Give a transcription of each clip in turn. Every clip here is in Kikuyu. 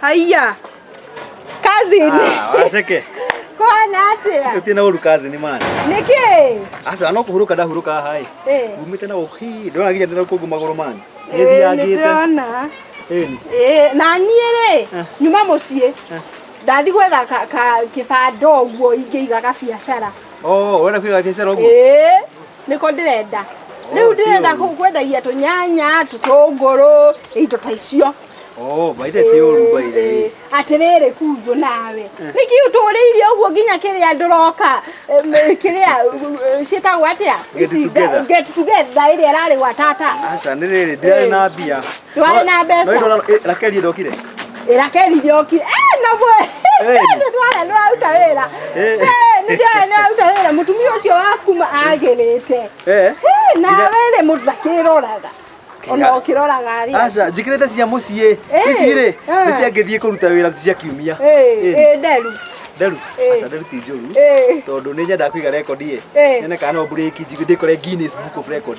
Haiya. Cousin. Ah, waceke Kwana atia. utie na uru kazi ni mani Niki. aca no kuhuruka ndahuruka hai Eh. umite na guki ndona ginya ndina kungu maguru mani Eh, ngithiangite nĩndĩrona. eni Eh, na niĩ rĩ nyuma mũciĩ ndathi gwetha ka- ka- kĩbanda ũguo ingĩiga gabiacara oh wena kwiga biacara ugu Eh, niko ndĩrenda rĩu ndĩrenda kũ- kwendagia tũnyanya tũtũngũrũ indo ta icio Oh, baithe ti ũru baithe. atĩrĩrĩ kunjũ nawe nĩkĩ ũtũrĩire ũguo nginya kĩrĩa ndũroka em, kĩrĩa eh, ciĩtagwo atĩa Get Ici, together. get together ĩrĩa ĩrarĩ gwa tata Aca nĩ rĩrĩ ndirarĩ na mbia. ndwarĩ na mbeca rakeli ndokire rakeli ndokire nabwe ndwarĩ ndĩraruta wĩra nĩndĩrarĩ ndĩraruta wĩra mũtumia ũcio waku agĩrĩte nawe rĩ mũndũ ndakĩroraga ona ũkĩroraga rĩ aca njĩkĩrĩte cia mũciĩ ici rĩ nĩ ciangĩthiĩ kũruta wĩra cia kiumia nderu nderu aca nderu ti njũru tondũ nĩ nyendaga kũiga rekondi ĩ nyone kana no mburĩki ndĩkore Guinness Book of Record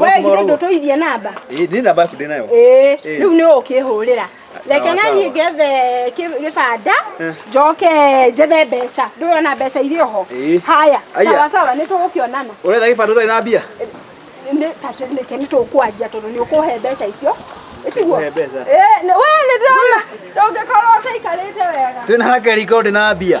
we githä ndå tå ithie namba nä namba yaku ndä nayo Ĩĩ, Ĩĩ. rĩu nĩ ũkĩhũrĩra Sawa, reke na sawa. niĩ ngethe kĩ- gĩbanda Eh. njoke njethe mbeca ndũyona mbeca irĩ oho Ĩĩ. haya Aya. sawa sawa nĩ tũgũkĩonana ũretha gä bandå tarä na mbia Nĩ- ta- nĩke nĩ tũkwanjia tondå nĩ ũkũhe mbeca icio ĩtiguo Ũkũhe mbeca? we nĩ ndĩrona ndũngĩkorwo ũtaikarĩte wega twä na hakeriko ndä na mbia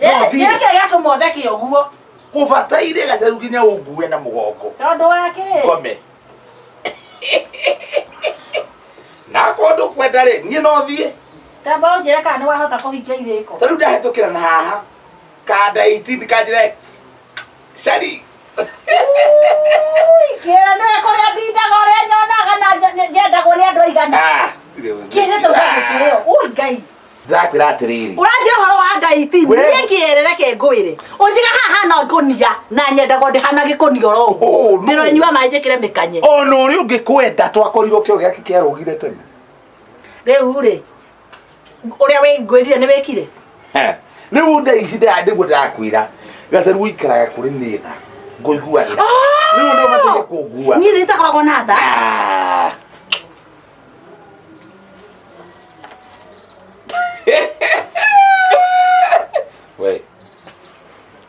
Ĩĩ, kĩrĩa kĩrĩa gĩatũma ũtheke ũguo ũbataire gacaru nginya ũngue na mũgongo tondũ wa kĩ ngome na kũndũ kwenda rĩ niĩ no thiĩ tamba ũnjĩre kana nĩ wahota kũhingia irĩko tarĩu ndahĩtũkĩra na haha kanda 18 kanjĩra X. cari kĩra nĩ kũrĩa ndindaga ũrĩa nyonaga na nje- nje- njendagwo nĩ andũ aigana Ah, ndirĩ ũndũ. kĩrĩte ũgagĩkĩrĩo ũi ngai ndĩrakwĩra atĩrĩrĩ ũranjĩra ũhoro wa ngai ti We- niĩ kĩerere ke ngwĩre ũnjiga haha na ngũnia na nyendago ndĩhana gĩkũnia oro ũguo Oh, no. ndĩronyua maĩ njĩkĩre mĩkanye ona ũrĩa ũngĩ kwenda twakorirwo kĩo gĩake kĩarũgire tene rĩu rĩ ũrĩa wĩngwĩrire nĩ wĩkire He. rĩu nda ici nda- nĩguo ndĩrakwĩra gacaru ũikaraga kũrĩ nĩ tha ngũiguagĩra rĩu nĩ ũbataire kũngua niĩ nĩtakoragwo na tha Ah. we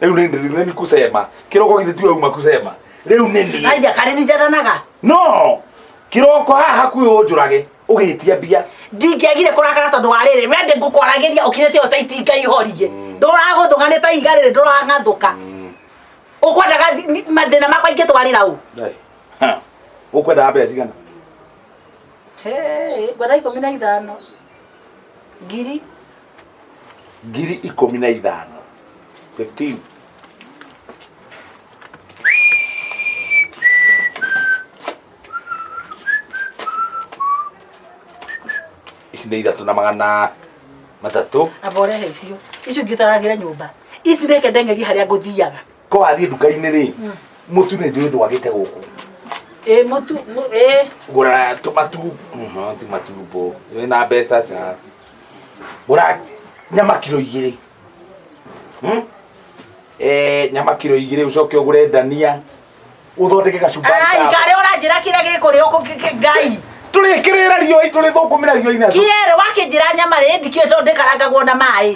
riu ni ni ni kusema kiroko githi tiwe uma kusema riu ni ni aija kare ni jatanaga no kiroko haha kwi unjurage ugitia mbia ndingĩagire kũrakara tondũ wa rĩrĩ we ndĩ ngũkwaragĩria ũkinyĩte ĩyo ta itinga ihoriĩ ndũragũthũka nĩ ta iga rĩrĩ ndũrang'athũka ũkwendaga thi- ni- mathĩna makwa ingĩtwarĩra ũ Dai. ũkwendaga mbeca cigana Hey, ngwenda ikũmi na ithano ngiri ngiri ikũmi na ithano 15 ici nĩ ithatũ na magana matatũ aba ũrehe icio icio ingĩ ũtaragĩre nyũmba ici reke ndengerie harĩa ngũthiaga ko wathiĩ nduka-inĩ rĩ mũtu nĩ njũĩ ndwagĩte gũkũ ĩ mũtu mũ- ĩ gũra tũmatu mhm, ti matumbo wĩ na mbeca ca gũra nyama kiro igĩrĩ Hmm? Eh, nyama kiro igĩrĩ ũcoke ũgũre ndania ũthondeke gacumbari ai ka- ngarĩ ũranjĩra kĩrĩa gĩkũrĩ ũkũ kĩ- kĩ- ngai tũrĩkĩrĩra riũi tũrĩthũkũmĩra riũi na kĩerĩ wakĩnjĩra nyama rĩ ndikĩũĩ tondũ ndĩkarangagwo na maĩ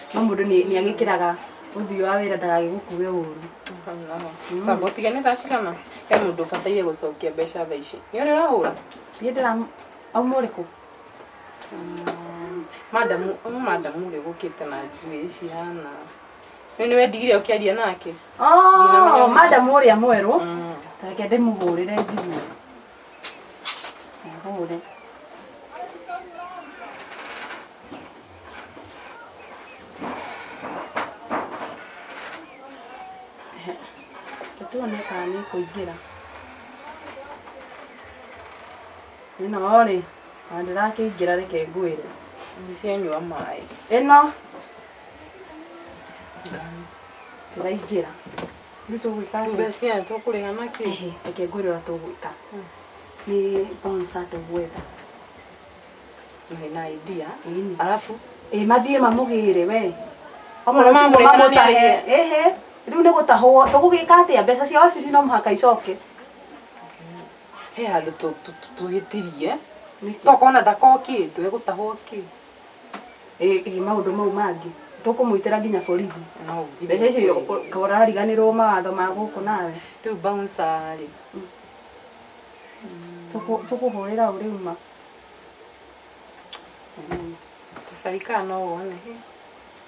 no mũndũ nĩ nĩ agĩkĩraga ũthiũ wa wĩra ndagagĩgũkue ũru Samba ũtige nĩ thaa cigana he mũndũ ũbataire gũcokia mbeca thaa ici nĩ ũrĩ ũrahũra niĩ ndĩra auma ũrĩkũ madamu ũyũ madamu ũrĩa ũgũkĩte na njuĩ cihana rĩu nĩ wendigire ũkĩaria nake Oh, madam ũrĩa mwerũ reke ndĩmũhũrĩre njigue Ihumure. Tũtuone kana nĩ kũingĩra. Ĩno rĩ, na ndĩrakĩingĩra reke ngwĩre. Ndicianyua maĩ. Ĩno ndĩraingĩra. rĩu tũgwĩka atĩa? mbeca aya tũkũrĩha na kĩ Ehe, reke ngwĩre ũrĩa tũgwĩka nĩ bonsa tũgwetha Nĩ na idea Ĩni. alafu ĩ mathiĩ mamũgĩre we Okorwo mamũrĩha na nĩarĩhe. ehe rĩu nĩ gũtahwo tũgũgĩka atĩa mbeca cia wabici no mũhaka icoke he handũ tũ- tũ- tũ- twĩtirie Nĩkĩ? tokona ndakokĩndũ egũtahwo kĩ ĩ ĩ maũndũ mau mangĩ tũkũmwĩtĩra nginya borithi No nginya mbeca icio kweli. ka ũrariganĩrwo mawatho ma gũkũ nawe Rĩu bouncer rĩ. Tũkũ- tũkũhũrĩra ũ rĩu ma Tũcarikana no wone.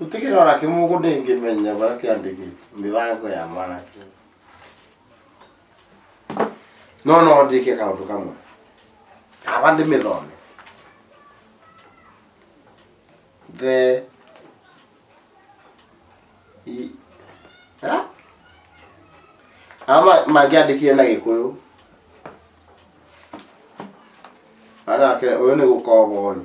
Gũtikĩrĩ ona kĩmwe ũguo ndĩngĩmenya bara kĩandĩkĩte mĩbango ya mwanake. No no ndĩke kaũndũ kamwe. Aba ndĩmĩthome. The i- Ha? Ama mangĩandĩkire na gĩkũyũ. Anake ũyũ nĩ gũkoba ũyũ.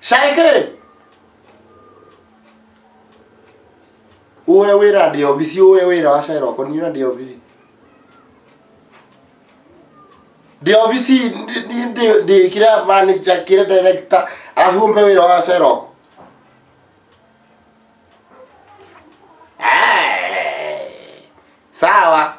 Shaike! Uwe wĩra ndĩ obici, uwe wĩra wa Shaira ũkwa niĩ ndĩ obici. Ndĩ obici ndĩ- ndĩ- ndĩ- ndĩ kĩrĩa manager kĩrĩa director alafu umpe wĩra wa Shaira ũkwa. Eh, Sawa.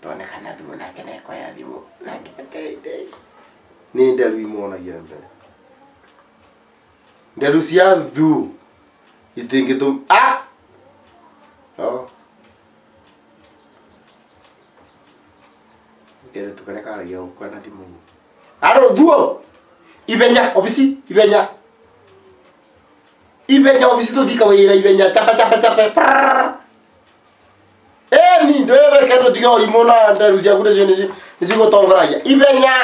twone kana thimũ nake nekoya thimũ nake ateithei nĩ nderu imonagia mbere nderu cia thu itingĩtũm ah! no kere tukare karagia gũkua na thimũ-inĩ arũ thuo ithenya obici ithenya ithenya obici tũthika wĩra ithenya chapa chapa chapa prrrr. ĩni ndwĩreke tũtige ũrimũ na nderu ciaku nĩcio nĩci- nĩcigũtongoragia ithenya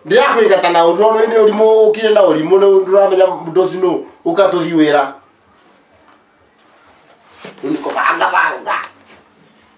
ndĩrakwĩgata na ũndũ ũrĩa nĩ ũrimũ ũkire na ũrimũ rĩu ndũramenya mũndũ ũcio nũ ũkatũthi wĩra rĩu nĩ kũbangabanga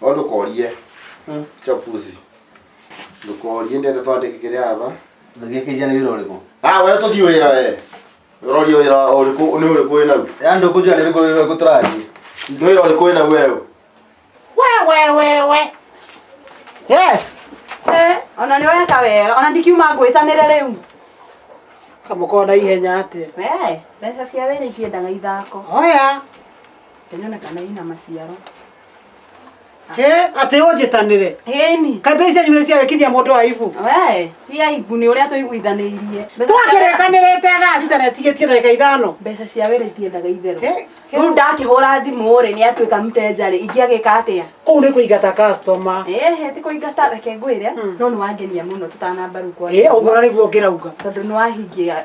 no ndũkorie chapuzi ndũkorie ndende twandĩke kĩrĩa aba Ndagĩkĩja nĩ wĩra ũrĩkũ? ah we tũthiĩ wĩra we ũroria wĩra ũrĩkũ nĩ ũrĩkũ wĩ nau Yaani ndio kujua ndio kujua kutaraji. nĩ wĩra ũrĩkũ wĩ nau wewe Yes. Eh, ona nĩ weka wega ona ndikiuma ngwĩtanĩre rĩu kamũkorwo na ihenya atĩ we mbeca cia wĩra ikĩendaga ithako oya ĩnyonekana ina maciaro Eh, atĩ ũnjĩtanĩre Ĩni. kambĩ icio nyumĩrĩ cia wĩkithia mũndũ wa ibu We, ti aibu nĩ ũrĩa tũiguithanĩirie. Mbeca cia- twakĩrĩkanĩrĩte thaa thita na ĩtigĩtie ndagĩka ithano Mbeca cia wĩra itiendaga itherũ. Eh, eh. Rĩu ndakĩhũra thimũ-rĩ nĩ atuĩka mtenjarĩ ingĩagĩka atĩa? kũu nĩ kũingata customer Ehe, ti kũingata reke ngwĩre no nĩ wangenia mũno tũtanamba rĩu kwa Eh, ũguo na nĩguo ngĩrauga tondũ nĩ wahingia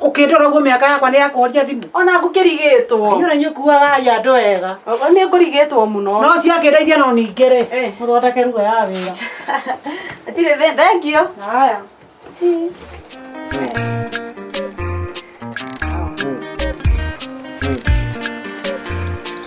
Ũkĩndora guo mĩaka yakwa nĩ ya kũhoria thimũ. Ona ngũkĩrigĩtwo. Inyũra inyuĩ kuaga ya andũ wega. Ogo nĩ ngũrigĩtwo mũno. No ciakĩndeithia no ningĩ rĩ. Eh. Mũthondeke ruga ya wĩra. Atirĩ thĩ thengio. Haya.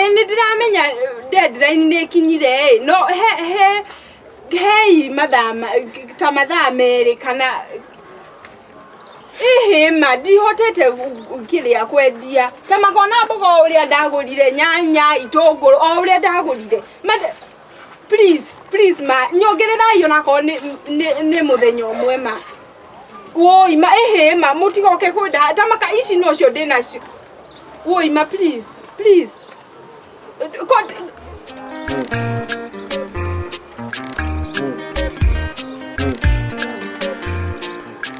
ĩ nĩ ndĩramenya deadline nĩ ĩkinyire ĩ no he he hei mathaa ma- ta mathaa merĩ kana ihĩma ndihotete gu- gu- kĩrĩa kwendia ta makona mboga o ũrĩa ndagũrire nyanya itũngũrũ o ũrĩa ndagũrire Mate- please please ma nyongererai ona korwo nĩ nĩ- nĩ mũthenya ũmwe ma woi ma ĩhĩ ma mũtigoke kwenda ta maka ici nocio ndĩ nacio woi ma please please Ko-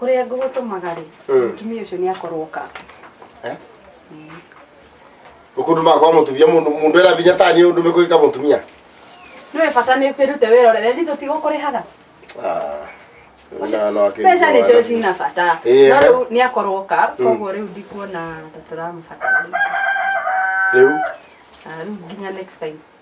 kũrĩa ngũgũtũmaga rĩ Mm. mũtumia ũcio nĩ akorwo ka Eh? Ukundu mako wa mutumia mundu mundu era binya tani undu mekuika mutumia. nĩwe bata nĩ kwĩrute wĩra ũrĩa wendi tũtigũkũrĩhaga Ah. Na no akiri. mbeca nĩcio cina bata Ĩĩ, no eh. rĩu nĩ akorwo ka koguo rĩu ndikuona ta tũramũbatara Riu Ah, rĩu nginya next time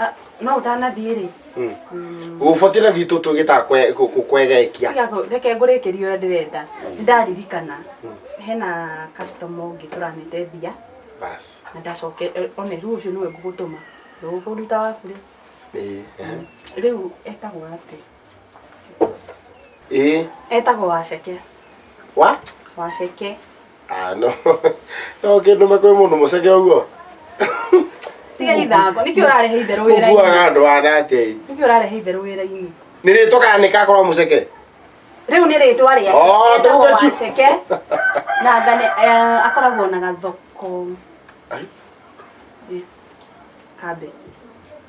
Ah, no ũtanathiĩ rĩ gũbokĩra gwitũ tũgĩtaga kwe- kũ- kũ- kwegekia Tiga kũ- reke ngũrĩkĩrie ũrĩa ndĩrenda Nĩ ndaririkana hena customer ũngĩ tũranĩte mbia basi na ndacoke eh, one rĩu ũcio nĩwe ngũgũtũma ndũgũkũruta waku rĩ Ĩĩ, ehe. rĩu etagwo atĩ ĩĩ etagwo waceke wa waceke Ah, no no kĩndũ makwĩ mũndũ mũceke ũguo tiga ithango nĩkĩ ũrarehe itherũ wĩra-inĩ ũguaga andũ ana atĩa ĩ? nĩkĩ ũrarehe itherũ wĩra-inĩ nĩ rĩtwa kana nĩ kakorwo mũceke rĩu nĩ rĩtwa rĩake Oh, etagwo tũgũkĩ- waceke na ngane eh, akoragwo na gathoko Ai. Ĩ, kambe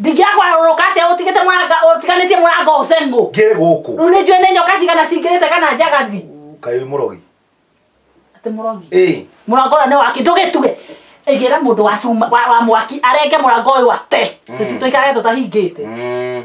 ndingĩakwa rũrũ kate ũtigĩte mũranga ũtiganĩtie mũranga ũceng'ũ ngĩrĩ gũkũ rĩu nĩ njũĩ nĩ nyoka cigana cingĩrĩte kana njagathi kaĩ mũrogi atĩ mũrogi ĩ mũrango ũrĩa nĩ waki ndũgĩtuge ĩgĩra mũndũ wa cuma wa wa mwaki arenge mũrango ũyũ ate tũikare tũtahingĩte Mm.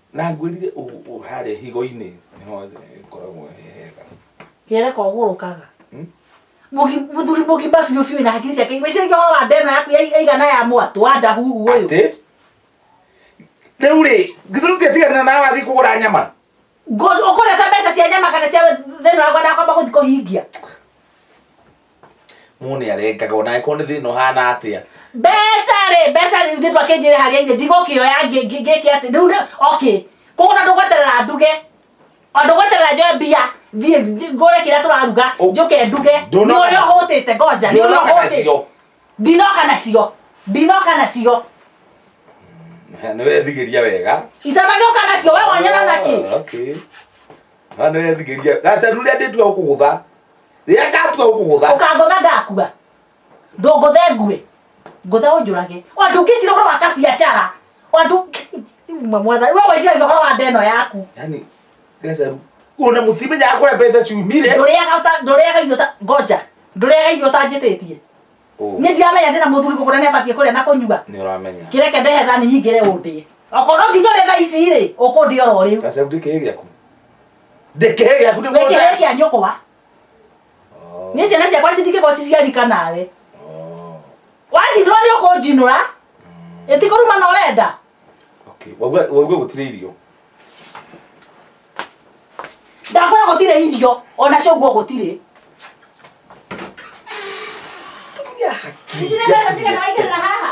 Na ngwĩrire ũguo harĩa higo-inĩ nĩho ĩkoragwo ĩ hega. Kĩere kogũrũkaga. Hmm? Mũthuri mũgima biũ biũ na hakiri ciake igwĩciria ũhoro wa ndeno yaku yaigana ya mwatũ wa ndahuhu ũyũ. Atĩ? Rĩu rĩ, githuru tiatigana na wathiĩ kũgũra nyama. Ũkũreta mbeca cia nyama kana cia thĩna wakwa ndakwamba gũthiĩ kũhingia. mũndũ nĩ arengaga ona angĩkorwo nĩ thĩna ũhana atĩa mbeca rĩ mbeca rĩ thitu akĩnjĩre harĩa irĩ ndigũkĩoya ngĩ- ngĩ- ngĩke atĩ rĩu nĩ- okay koguo na ndũgweterera nduge o ndũgweterera njoe mbia thiĩ nj- ngũre kĩrĩa tũraruga Ũ- njoke nduge nĩ Ndũnoka ũrĩa nacio. ũhũtĩte ngoja nĩ ũrĩa ndũnoka ũhũtĩte nacio ndinoka nacio ndinoka nacio nĩ wethigĩria wega itanagĩoka nacio we wanyona naki Ah, okay. Ah, nĩ wethigĩria gacaru rĩa ndĩtua gũkũgũtha rĩrĩa ndatua gũkũgũtha ũkangũtha ndakua ndũngũthe ngue ngũtha ũnjũrage andũ ngĩcira ũhoro wa kabiacara andũ uma mwana we weciragia ũhoro wa ndeno yaku yani gacaru ona mũtimenyaga kũrĩa mbeca ciumire ndũrĩaga ũta- ndũrĩaga irio ta- ngoja ndũrĩaga irio ũtanjĩtĩtie Ũũ, niĩ ndiramenya ndĩna mũthuri kũgũra nĩ abatiĩ kũrĩa na kũnyua nĩ ũramenya kĩreke ndehe thani nyingĩre ũndĩe okorwo nginya ũrĩa thaa ici rĩ ũkũndĩa oro rĩu gacaru ndĩkĩrĩ gĩaku ndĩkĩhe gĩaku nĩ wĩkĩhe mũthee kĩa nyũkwa nĩ ciana ciakwa citikĩgwo ciciarika nawe wanjinũra nĩ ũkũnjinũra ĩtikũruma na ũrenda waigua gũtirĩ irio ndakora gũtirĩ irio ona cũguo gũtirĩ Ici nĩ mbeca cigana waigĩrĩra haha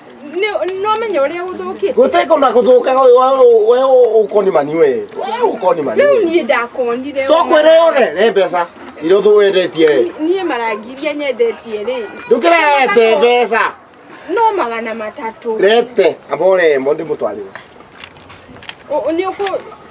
nĩwamenya ũrĩa gũthũkĩte gũteko na gũthũkaga ũyũ wa- we ũkonimani we we ũkonimani rĩu niĩ ndakonire tokwĩre yothe nĩ mbeca iria ũthũ wendetie we niĩ marangiria nyendetie rĩ ndũkĩrete mbeca no magana matatũ rete amba ũremo ndĩmũtwarĩre Ũ- ũ- nĩ ũkũ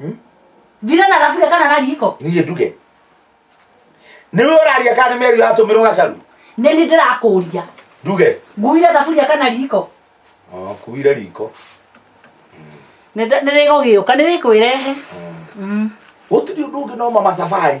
Hmm? Thira na thaburia kana na riko. Niĩ nduge. Nĩwe ũraria kana nĩ meri yatũmĩrwo gacaru? Nĩ nĩ ndĩrakũria. Nduge. Nguire thaburia kana riko. Oh, kuire riko. Nĩ nĩ gũgĩũka nĩ wĩkwĩrehe. Hmm. Hmm. Gũtirĩ ũndũ ũngĩ no mama safari.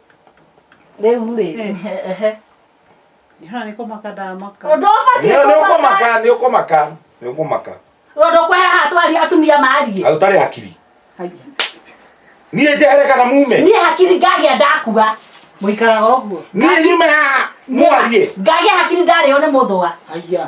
rĩu rĩ ehe Hana nä kå maka ndamaka ũndũ ũbatiĩ Nĩ- nĩ kũmaka ũkũmaka nĩ ũkũmaka nĩ ũkũmaka ũndũ kweheha atwaria atumia mariĩ na ũtarĩ hakiri haiya niĩ njehere kana mume niĩ hakiri ngagĩa ndakua må ikaraga å guo niĩ nyume haha mwarie ngagĩa hakiri ndarĩo nĩ mũthũa haiya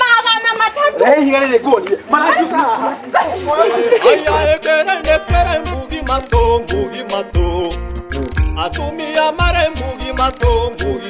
magana matatu ayaekerendekere mbugi mato mbugi mato atumia mare mbugi mato mbugi